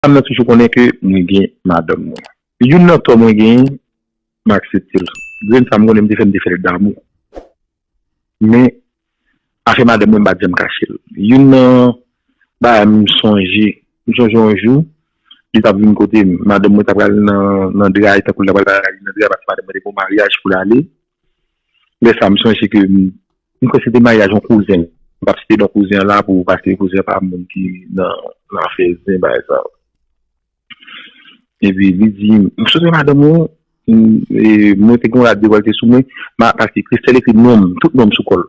Fanm nan toujou konnen ke mwen gen madanm mwen. Youn nan tò mwen genyen, m aksepte l. Grenn sa m konnen m te fè m te fè l damou. Men, afè madanm mwen m pa t janm kache l. Youn nan bagay m sonje, m sonje yon jou, li t ap vin kote m. Madanm mwen t apral nan dra li tankou l t apral nan dra paske madanm mwen te gen yon maryaj pou l ale. Lè sa m sonje ke m kwè se te maryaj yon kouzen m, m pap site non kouzen an la pou paske kouzen an pa moun ki nan afè zen bagay sa yo. Epi li di m, m sonje madanm ou, mwen te gen yon rad devòlte sou mwen, paske Christelle ekri non m, tout non m sou kò l.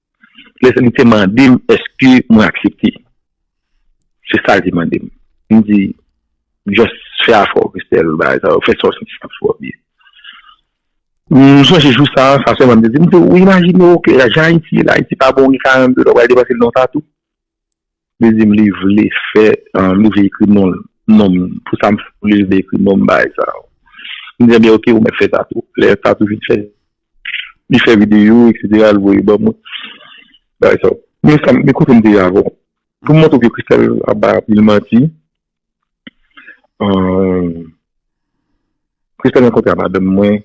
Lè li te mande m eske mwen aksepte. Se sa li te mande m. M di, just fè afè w Christelle, bagay sa yo, fè sa w santi sa ap fè w byen. M sonje jou sa, sa sèlman m te di, m di ou imajine w ke jan Ayiti ye la, Ayiti pa bon, gen 42 la, w pral depanse l nan tatou? Li dim li vle fè li vle ekri non nonm pou sa pou li vle ekri nonm bagay sa yo m di ebyen ok ou mèt fè tatou lè tatou fin fèt li fè videyo eksetera l voye ban mwen bagay sa yo men kote m te ye avan pou m montre w ke Christelle ap bay anpil manti Kris te rankontre ak madanm mwen,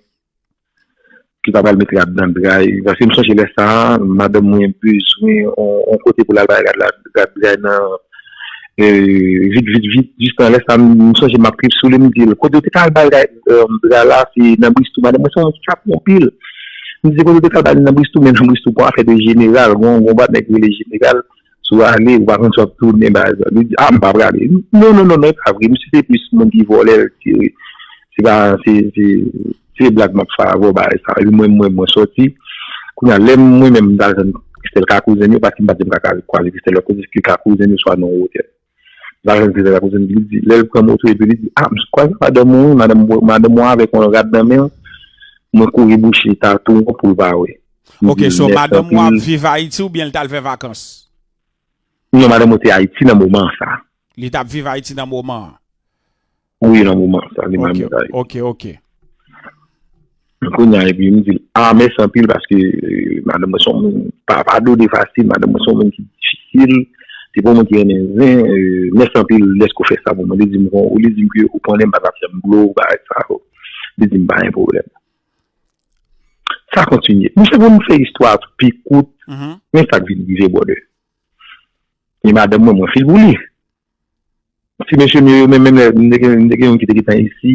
ki ta pral mete rad nan dray. Paske m sonje lè sa a, madanm mwen bezwen yon kote pou l al bay rad dray nan, vit vit vit. Jis nan lè sa a, m sonje m ap kriye sou li, m di l, kote ou te ka al bay rad dray la, se nan Bristou. Madanm mwen se yon chat yon pil. M di l, kote ou te ka al bay li nan Bristou, men nan Bristou pa w a fè de jeneral, gen yon gwo nèg ki rele jeneral. Si w ale, ou pa konn si w ap tounen baz la. Li di, a m pa prale. Non, non, non, non, e pa vre. Misye se plis moun ki vole l ke se pa, se, se, se blag m ap fè avè w bagay sa. Epi mwen menm mwen soti. Kounye a, lè mwen menm m t al jwenn Christelle ka kouzen l yo, paske m pa t di m ka kwaze Christelle lòt kote, se ka kouzen l yo swa nan yon otèl. Lajan di la kouzin li di lèl pran moto epi li di ah m kwaze madanm ou wi madanm mwen madanm mwen avèk yon rad nan menl mwen kouri bouche tatou an poul pa wè. Ok so madanm ou ap viv ayiti oubyen li tal fè vakans? Non madanm mwen te ayiti nan moman sa. Li tap viv ayiti nan moman an. Wi nan moman sa li man mi bay. Ok ok. Kounya epi m di l a mèsi anpil paske madanm mwen son moun pa padone fasil, madanm mwen son moun ki difisil, se pa yon moun ki renmen zen, mèsi anpil dèske w fè sa pou mwen. Li di m kon ou li di m ke ou konnen m pa tap fè m dlo bagay sa yo. Li di m pa gen pwoblèm. Sa kontinye. Mwen se pou m fè istwa a pi kout, men sa k vin rive brother. Gen madanm mwen mwen fil pou li. Ti mesye m yo, yo menm, menm lè m te gen, m te gen youn ki te gentan isi,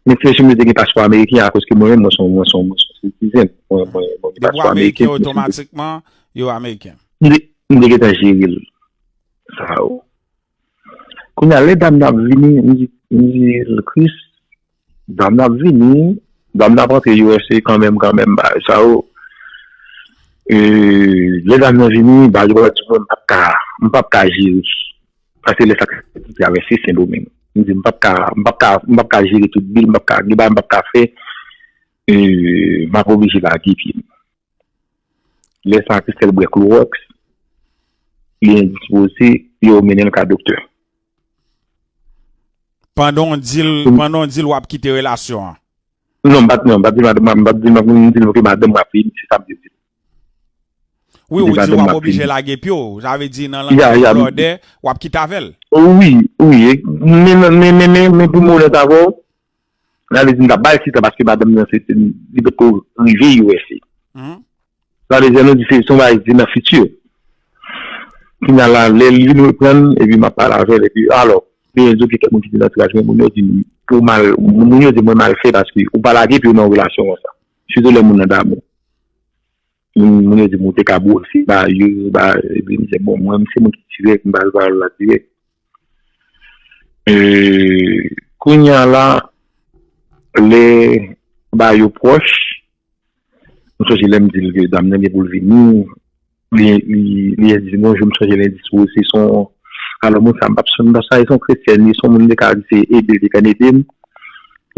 men ti mesye m yo te gen paspò ameriken akoske mwen menm mwen se yon, mwen se yon sitizèn, mwen, mwen, mwen gen paspò ameriken. Depi w ameriken otomatikman, yo ameriken. M te, m te gentan jere l sa yo. Kounye a lè dam nan ap vini, m di, m di l, Chris. Dam nan ap vini, dam nan ap antre usa kanmenm kanmenm bagay sa yo lè dam nan vini bagay yo ap vini m pap ka jere pase lè sa ki pou travèse sendomeng m di m pap ka m pap ka jere tout bil m pap ka gen bagay m pap ka fè m ap oblije lage pye m lè sa Christelle bwè klowòks li endispoze yo mennen l ka doktè Pandan w di l, pandan w di l w ap kite relasyon an. Non, m pa di non, m pa di madanm m, m pa di non, m di l ok madanm m ap vini, se sa m vle di l. Wi, ou di w ap oblije lage pye w, sa vle di nan langaj an blòdè, w ap kite avè l. Wi, wi, men, men, men, men pou m onèt avè w, Sa vle di m ta bal ti tan paske madanm nan se li potko rive usa. Sa vle di an nou di se yon bagay ki se nan fiti. Kounya la lè li vin reprann epi map pale avèl epi alò genyen di ok kèk moun ki vin antouraj mwen moun yo di m pou mal moun yo di mwen mal fè paske ou pa lage pye w nan yon relasyon konsa sitou lè moun nan damou. Moun yo di m ou te ka bwose ba yo, ba epi m di bon mwen se mwen ki dirèk m pral ba yo la dirèk. Kounya la lè ba yo pwòch, m sonje lè m di l ke dam nan gen pou l vini, li di m bonjou m sonje l endistwo se son alò moun sa m pa p sonje sa se yon kretyèn li se yon moun m te ka di se ede l te konn ede m,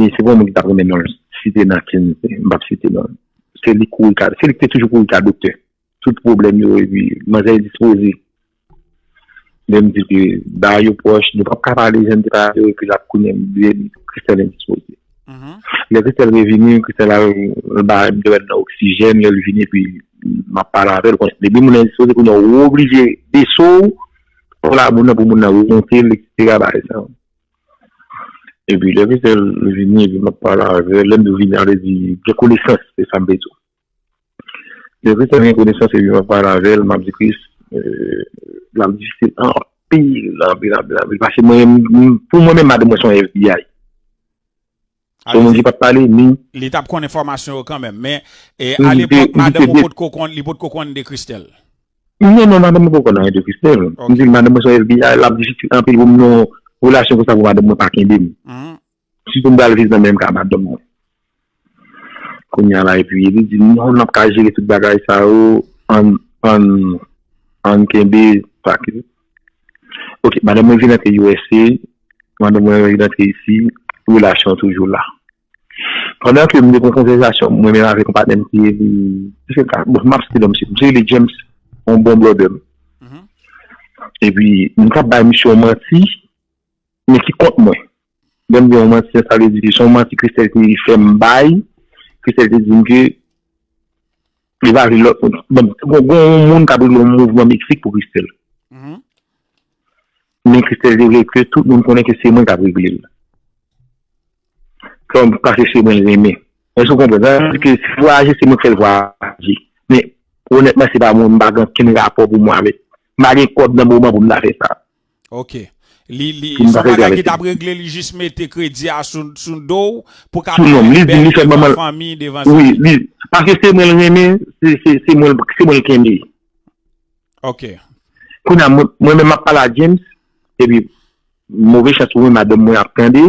se pa yon moun ki ta p renmen non l site nan ken m pa p site non l. Se li kouri ka, se li ki te toujou kouri ka doktè. Tout pwoblèm yo epi manzè endispoze. Lè m di ke ba yo pwòch, nou pap ka pale jan m te pale yo epi l ap kounye m di m Christelle endispoze. Lè Christelle revini, Christelle al l ba m dwèt nan oksijèn, lè l vini epi m ap pale avè l, bon, depi moun nan endispoze kounye a ou oblije bese w pou la moun nan pou moun nan remonte l eksetera bagay sa yo. E pi lè misye vini, epi m ap pale avè l, lè m di vini a, vle di gen konesans, se sa m vle di w. Lè Christian gen konesans epi m ap pale avè l, m ap di Chris, l ap difisil anpil, anpil, anpil, anpil. Paske mwen menm, pou mwen menm madanm mwen se yon FBI. Gen moun ki pat pale ni. Li tap konn enfòmasyon yo kanmenm. Men a lepòk madanm ou pot ko konn, li pot ko konn de Christelle. Non non madanm mwen poko konn anyen de Christelle. M di madanm mwen se yon FBI, lap difisil anpil pou m nan yon relasyon konsa pou madanm mwen pa kenbe m. Sitou m pral viv nan menm ka madanm mwen. Kounya la epi li di m non nap ka jere tout bagay sa yo, ann ann kenbe sa ki. Ok madanm mwen vin antre usa madanm mwen vin antre isi relasyon an toujou la pandan ke m te kon konvèzasyon mwen menm avèk yon patnè m ki rele misye ta bon m ap site non misye misye rele James yon bon blòdè m epi m t ap bay misye yon manti Men ki kont mwen. Lè m di yon manti sa sa vle di ke se yon manti Christelle te fè m bay. Christelle te di m ke li pa vle lòt moun. Bon, gen yon moun k ap regle yon mouvman Meksik pou Christelle. Men Christelle te vle ke tout moun konnen ke se mwen k ap regle l. Kòm, paske se mwen l renmen. Èske ou konprann? Sa vle di ke si l vwayaje se mwen k fè l vwayaje. Men, onètman se pa mwen, m pa gen okenn rapò pou mwen avèk. M pa gen kòb nan moman pou m ta fè sa. Ok. Li li Li m pa sa fè bagay ki travèse. tap regle li jis mete kredi a sou sou do w pou ka Sou non m. fè Li di bèl li fè devan manman fanmi, devan l. sa. Wi, li paske se mwen l renmen, se se se mwen l se mwen l kenbe. Ok. Kounye a mwen mwen menm m ap pale a James epi move chans pou mwen madanm mwen ap tande.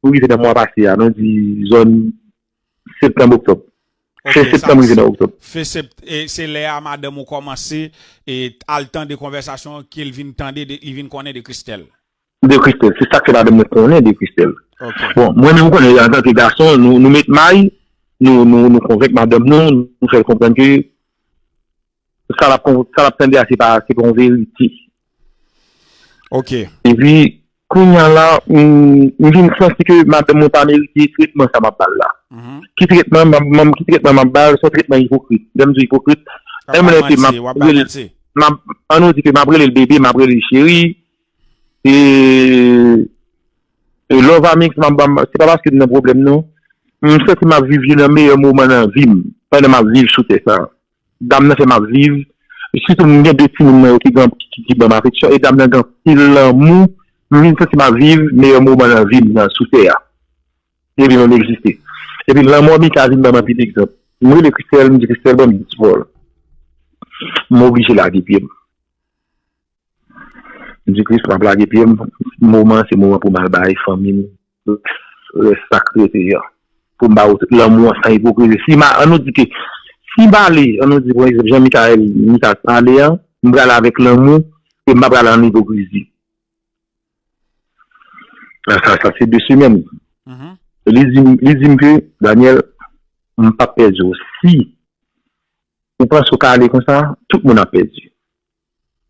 Pou rive nan mwa pase a, nou di zòn septanm oktòb. Fen septanm rive nan oktòb. Fen septanm, e se lè a madanm ou kòmanse e al tande konvèsasyon an ke l vin tande de, li vin konnen de Christelle. De Christelle. Se sa k fè madanm mwen konnen de Christelle. Bon, mwen menm ou konnen antanke gason, nou met may, nou konvenk madanm nou, nou fè l konprann ke, sa l ap tande a se pa yon verite. Ok. E pi, kounya la, m vin santi ke madanm mwen pa merite tretman sa m ap ba l la. Ki tretman m ap ba l? Se yon tretman ipokrit. Lè m di w ipokrit, menm lè ke m ap rele l, an nou di ke m ap rele l bebe, m ap rele l cheri, e love a mix m ap ba l, se pa paske m nan pwoblèm non. M santi m ap viv youn nan meyè moman nan vi m, pandan m ap viv sou tè sa a. Dam nan fè map viv, sitou m gen 2 timoun mwen yo ki gran ki banm afeksyon e dam nan gen anpil lanmou, m vin santi map viv meyè moman nan vim nan sou tè a epi mwen egziste. Epi lanmò Mika vin banm anpil egzanp. M rele Christelle m di Christelle banm yon ti vòl. M oblije lage pye m. M di Christ map lage pye m, moman an se moman pou m al bay fanmi m. Tout rès sa k rete an. Pou m ba ou tout lanmou an san ipokrizi. Si ma, an nou di ke, si m ale, an nou di pou egzanp jan Mickaël, Mika t pale an, m prale avèk lanmou e m pa prale an ipokrizi. Sa sa sa se de semèn. Li di m, li di m ke, Daniel, m p ap pèdi ou. Si ou panse ou ka ale konsa, tout moun ap pèdi.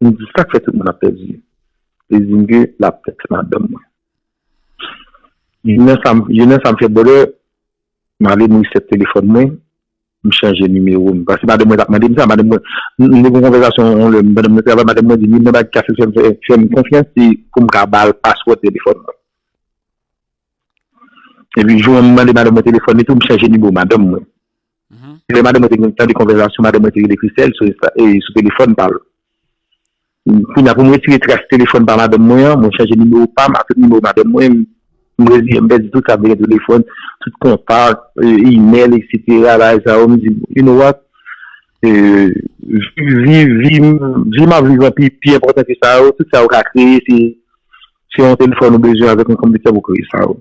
M di sak fè tout moun ap pèdi yo. Li dim ke lap tèks madanm mwen. Jounen sa jounen sa m fè bòdè m ale m reset telefòn mwen m chanje nimewo m paske madanm mwen tap mandem sa madanm mwen nou te gen yon konvèzasyon yon lè pandan mwen travay madanm mwen dim youn nan bagay ki ka fèm fèm konfyans se poum ka bal paswòd telefòn mwen epi jou an m mande madanm mwen telefòn li tou m chanje nimewo madanm mwen Lè madanm mwen te gen tande konvèzasyon madanm mwen te rele Christelle sou telefòn pa l. Kounye a pou m retire tras telefòn pa madanm mwen an, mwen chanje nimewo pa m ak tout nimewo madanm mwen, m reziyen m pèdi tout sa k te gen sou telefòn, tout kontak, imèl eksetera, bagay sa yo, m di you know what, vi m m ap viv lan pi enpòtan ke sa yo, tout sa yo ka kreye se yon telefòn ou bezwen avèk yon konpitè pou kreye sa yo.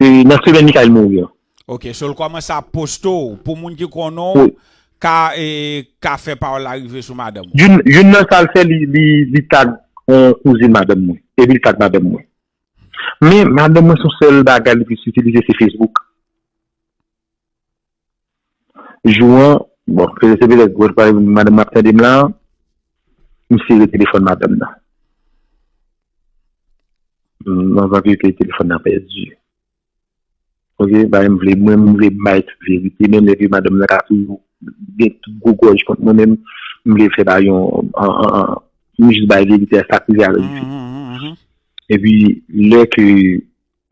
Nan semèn Mikayil mouri an. Ok so l kòmanse ap poste w pou moun ki konnen w ka ka fè pawòl la rive sou madanm ou. Youn nan sa l fè li tag on kouzin madanm mwen epi l tag madanm mwen. Men madanm mwen son sèl bagay li plis itilize se Facebook. Jou an, bon, se petèt pou wè m madanm nan ap tande m la, m sere telefòn madanm nan. M anvan ke telefòn nan pèdi. Ok, bagay m vle, mwen m vle bay tout verite, menm lè ke madanm nan ka toujou gen tout gwo gòj kont mwen, men m vle fè pa yon, m jis bay verite a sa k rive avèk li. Epi, lè ke.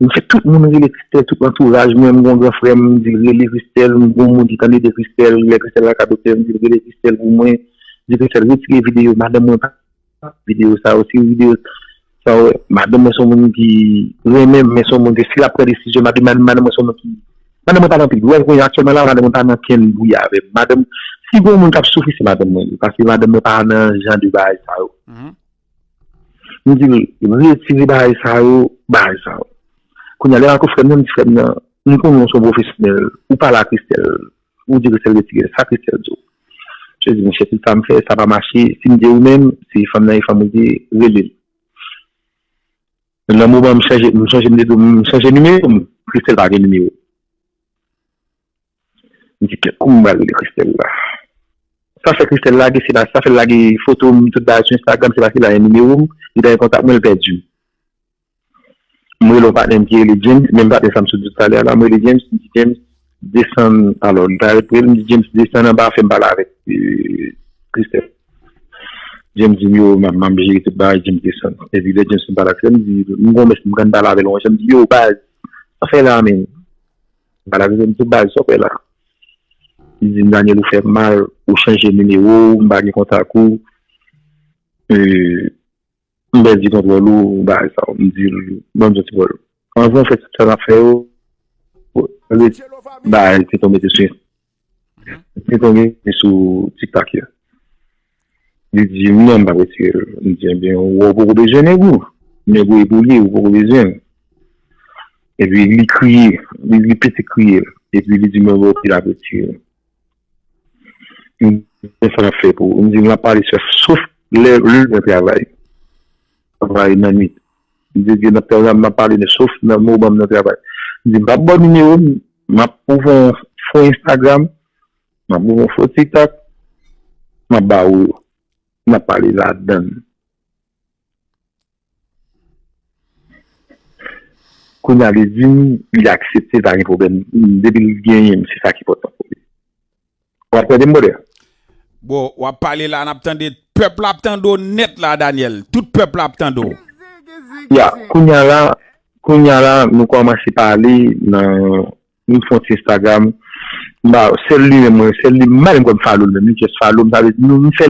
M fè tout moun rele Christelle tout antouraj mwen m gon gran frè m di l rele Christelle m gon moun ki tande de Christelle lè Christelle al kadoktè m di l rele Christelle pou mwen di Christelle retire video madanm mwen pa renmen video sa yo si video sa yo madanm mwen son moun ki renmen m men son moun ke si lap pran desizyon madanm mwen son moun ki madanm mwen pa nan anpil bgay kounye a aktyèlman la madanm mwen pa nan ankenn bri avè m madanm si gon moun kap soufri se madanm mwen ye paske madanm mwen pa nan jan de bagay sa yo. M di li, retire bagay sa yo, bagay sa yo. Kounya lè m ak ou frè m nan, m di frè m nan, m konnen w se yon pwofesyonèl, ou pale a Christelle, ou di Christelle retire l, sa Christelle di w? Christelle di m, chè tout sa m fè, sa pa mache, si m di ou menm, si fanm nan e fanm ou di, rele l. Nan moman m chanje, m sonje m te di w m chanje nimewo m, Christelle pa gen nimewo. M di kèt kouman m pral rele Christella. Sa fè Christella lage se la sa fè l lage foto m tout bagay sou Instagram se paske l genyen nimewo m, li ta gen kontak mwen l pèdi m. M rele yon patnè m ki rele James, menm patnè sa m sot di w talè a la, m rele James m di James desann alò li ta repre l m di James desann anba fè m pale avèk Christella. James di m yo m ap jere tout bagay James desann epi lè James fin pale ak Christella m di m gen yon mès m pran pale avè l yon jan m di yo baz sa w fè la a menm. Balaze menm tou baz sa w fè la. Li di m Daniel ou fè m mal, ou chanje nimewo w, m pa gen kontak ou. M pèdi kontwòl ou bagay sa w. M di l ban m yon ti kòl. Anvan w fè tout sa w ap fè yo, m pale, m bay l ti kòl mete sou. Mwen konnen li sou tiktak ya. Li di wi an m pa retire l. M di ebyen ou wè ou poko bezwen nèg ou. Nèg ou e pou li ou poko bezwen l. Epi li kriye. Li pete kriye. Epi li di mwen wè ou pi la retire l. M di men sa l ap fè pou ou. M di l ap pale sèf sof lè l nan travay. Travay nan nwit. M te di nan pwogram m ap pale men sof nan mo w ban m nan travay. M di m pap ba w nimewo m, m ap ouvri yon fo Instagram, m ap ouvri yon fo Tiktok, m ap ba ou yo. N ap pale ladan l. Kounye a li di m li aksepte pa gen pwoblèm. Depi l genyen m se sa ki enpòtan pou li. Wap tande m brother? Bro, wap pale la nap tande, pèp la ap tande w nèt la Daniel, tout pèp la ap tande w. Ya, kounya la, kounya la nou kòmanse pale nan nou fon ti Instagram, m ba, sèl li menm mwen, sèl li, m pa menm kwè m follow l menm, li just follow m, sa vle di nou m fè.